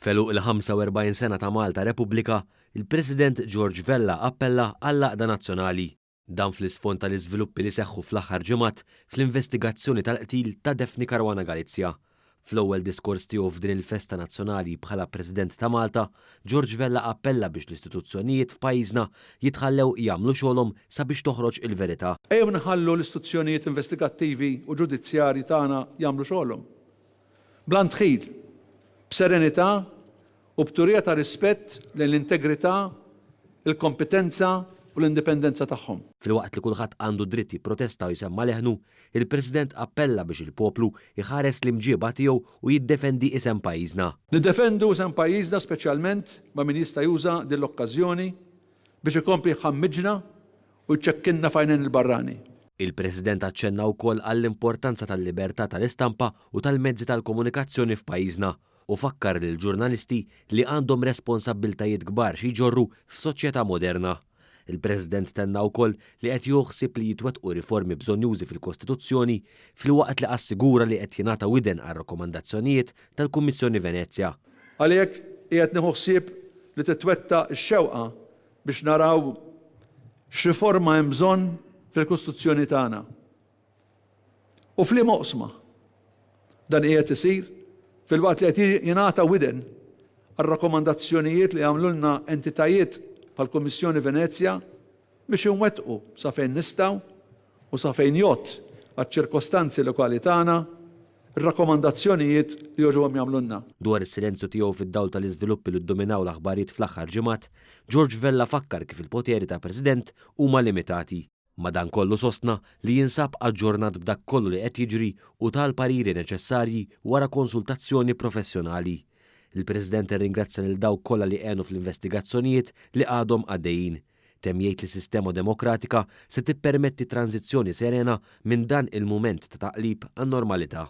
F'għeluq il-45 sena ta' Malta Repubblika, il-President George Vella appella għall-għaqda nazzjonali. Dan fl-isfond tal-iżviluppi li seħħu fl-aħħar ġimgħat fl-investigazzjoni tal-qtil ta' Daphne Caruana Galizia. Fl-ewwel diskors tiegħu f'din il-festa nazzjonali bħala President ta' Malta, George Vella appella biex l-istituzzjonijiet f'pajjiżna jitħallew jagħmlu xogħolhom sabiex toħroġ il-verità. Ejjew nħallu l-istituzzjonijiet investigattivi u ġudizzjarji tagħna jagħmlu xogħolhom. Bla ndħil, b'serenità u b'turija ta' rispett lejn l-integrità, il-kompetenza u l-indipendenza tagħhom. Filwaqt li kulħadd għandu d-dritt jipprotesta u jsemma' leħnu, Il-President appella biex il-poplu jħares l-imġieba tiegħu u jiddefendi isem pajjiżna. Niddefendu isem pajjiżna speċjalment ma' min jista' juża din l-okkażjoni biex ikompli jħammġna u jċekkinna f'għajnejn il-barrani. Il-President aċċenna wkoll għall-importanza tal-libertà tal-istampa u tal-mezzi tal-komunikazzjoni f'pajjiżna u fakkar lill-ġurnalisti li għandhom responsabbiltajiet kbar xi jġorru f'soċjetà moderna. Il-President tenna wkoll li qed jieħu ħsieb li jitwettqu riformi bżonjużi fil-Kostituzzjoni filwaqt li assigura li qed jingħata widen għar-rakkomandazzjonijiet tal-Kummissjoni Venezja. Għalhekk qiegħed nieħu ħsieb li titwettaq ix-xewqa biex naraw x'riforma hemm bżonn fil-Kostituzzjoni tagħna. u f'liema oqsma. Dan qiegħed isir filwaqt li qed jingħata widen għar-rakkomandazzjonijiet li għamlulna entitajiet bħall-Kummissjoni Venezja biex inwettqu sa fejn nistgħu u sa fejn jgħodd għaċ-ċirkostanzi lokali tagħna r-rakkomandazzjonijiet li jogħġobhom jagħmlulna. Dwar is-silenzju tiegħu fid-dawl tal-iżviluppi li ddominaw l-aħbarijiet fl-aħħar ġimgħat, George Vella fakkar kif il-poteri ta' President huma limitati. Madankollu sostna li jinsab aġġornat b'dak kollu li qed jiġri u ta l-pariri neċessarji wara konsultazzjoni professjonali. Il-President irringrazzja lil dawk kollha li għenu fl-investigazzjonijiet li għadhom għaddejjin. Temm jgħid li sistema demokratika se tippermetti tranżizzjoni serena minn dan il-mument ta' taqlib għan-normalità.